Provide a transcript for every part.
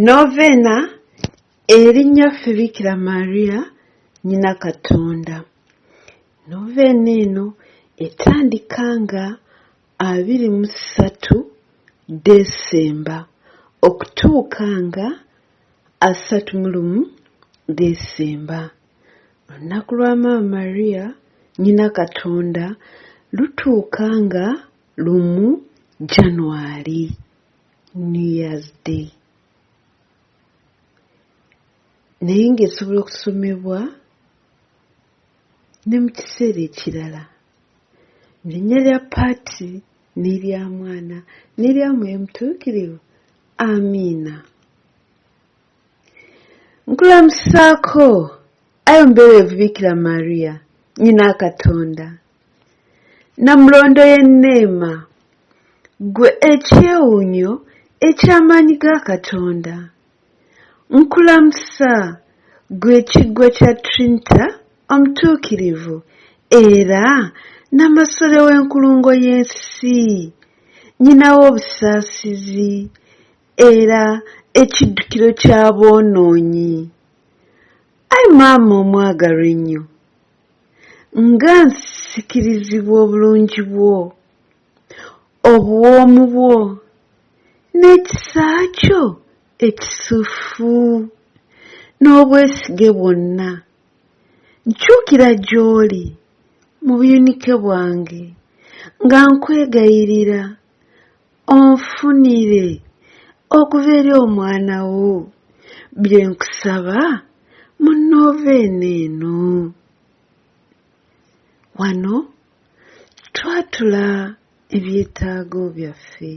Noveena eri Nnyaffe Bikira Maria Nnyina Katonda. Noveena eno etandika nga abiri mu ssatu Ddesemba okutuuka nga asatu mu lumu Ddesemba. Olunaku lwa Maama Maria Nnyina Katonda lutuuka nga lumu Janwali. new years day naye ng'esobola okusomebwa ne mu kiseera ekirala linnya lya paati n'erya mwana n'erya mwoyo mutuukirivu amiina nkulamusaako ayo mbeerevu bikira mariya nyina katonda Namulondo ye Neema, ggwe ekyewuunyo eky'amaanyi ga Katonda. Nkulamusa, ggwe Ekiggwa kya Trinita Omutuukirivu era Nnamasole w'enkulungo y'ensi, Nnyina w'obusaasizi era Ekiddukiro ky'aboonoonyi. Ai Maama omwagalwa ennyo! nga nsikirizibwa obulungi bwo obuwoomu bwo n'ekisa kyo ekisufu n'obwesige bwonna nkyukira gy'oli mu buyunike bwange nga nkwegayirira onfunire okuva eri omwana wo bye nkusaba mu nooveena eno wano twatula ebyetaago byaffe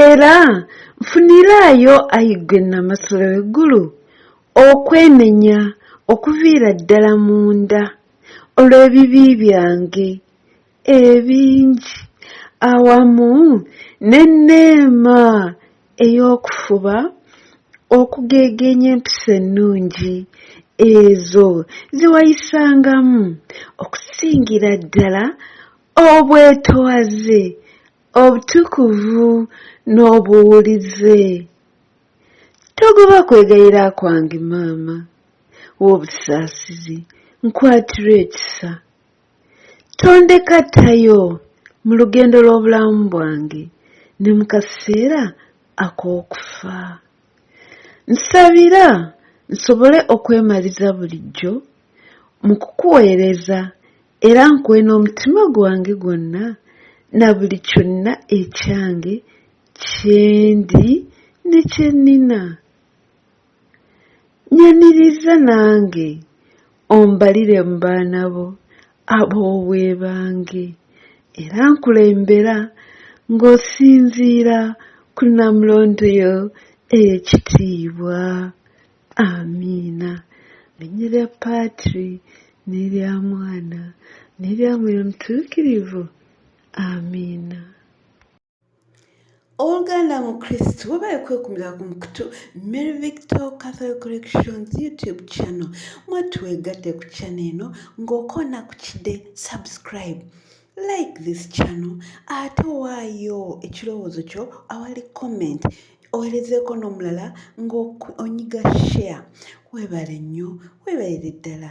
Era nfuniraayo, ayi ggwe Nnamasole w'eggulu, okwenenya okuviira ddala munda, olw'ebibi byange, ebingi awamu n'enneema ey'okufuba okugeegeenya empisa ennungi ezo ze wayisangamu okusingira ddala obwetowaze, obutukuvu n'obuwulize. Togoba kwegayira kwange maama w'obusaasizi, nkwatira ekisa Tondeka ttayo mu lugendo lw'obulamu bwange ne mu kaseera ak'okufa. Nsabira nsobole okwemaliza bulijjo mu kukuweereza era nkuwe n'omutima gwange gwonna na buli kyonna ekyange kye ndi ne kye nnina. Nyaniriza nange ombalire mu baana bo ab'obwebange era nkulembera ng'osinziira ku Namulondo yo ey'ekitiibwa. Amiina. Linnya lya Patri n'erya Mwana n'erya Mwoyo Mutuukirivu. Amiina. Ow'oluganda mu Kristo weebale kwekumira ku mukutu Mary Victor Catholic Collections YouTube channel mwe twegatte ku channel eno ng'okoona ku kide subscribe like this channel ate waayo ekirowoozo kyo awali comment owerezeeko n'omulala ng'onyiga share weebale nnyo weebalire ddala